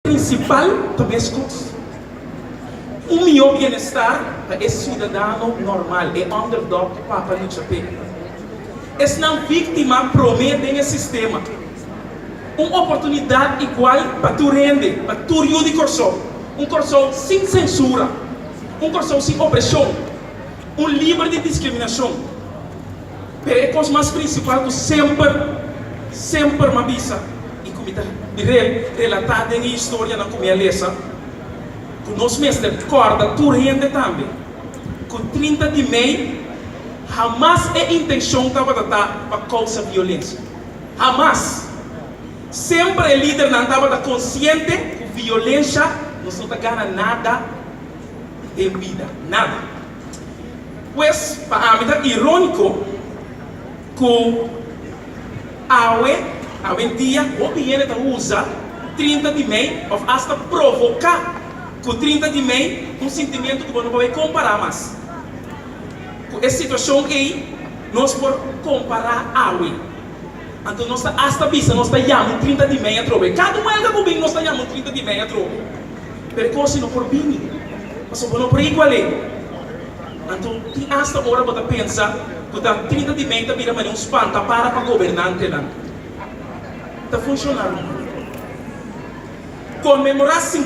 Prinsipal pa meskos, un mihó bienestar pa e siudadano normal, e underdog ku papa lucha p'e. Esnan víktima promé den e sistema. Un oportunidat igual pa tur hende, pa tur yu di Kòrsou. Un Kòrsou sin sensura. Un Kòrsou sin opreshon. Un liber di diskriminashon. Pero e kos mas prinsipal ku semper, semper m'a bisa i ku mi ta bira el relatá den e historianan ku mi a lesa, ku nos mester kòrda tur hende tambe ku trinta di mei hamas e intenshon tabata ta pa kousa violensia. Hamas! Semper e lidernan tabata konsiente ku violensha nos no ta gana nada den bida, nada. Pues, pa ami ta iróniko ku awe, awendia, hopi hende ta usa trinta di mei òf asta provoká ku trinta di mei un sintimientu ku bo no por bai kompará mas. Ku e situashon ei nos por kompará awe. Anto nos ta asta bisa nos ta yama un trinta di mei atrobe. Kada huelga ku bin nos ta yama un trinta di mei atrobe. pero koos i no por bini, pasobra bo no por i ku alé. Anto, tin asta ora bo ta pensa ku Doktrinita di Mei ta bira manera un spantapara pa gobernantenan? Ta funshona rumbo. Konmemorá.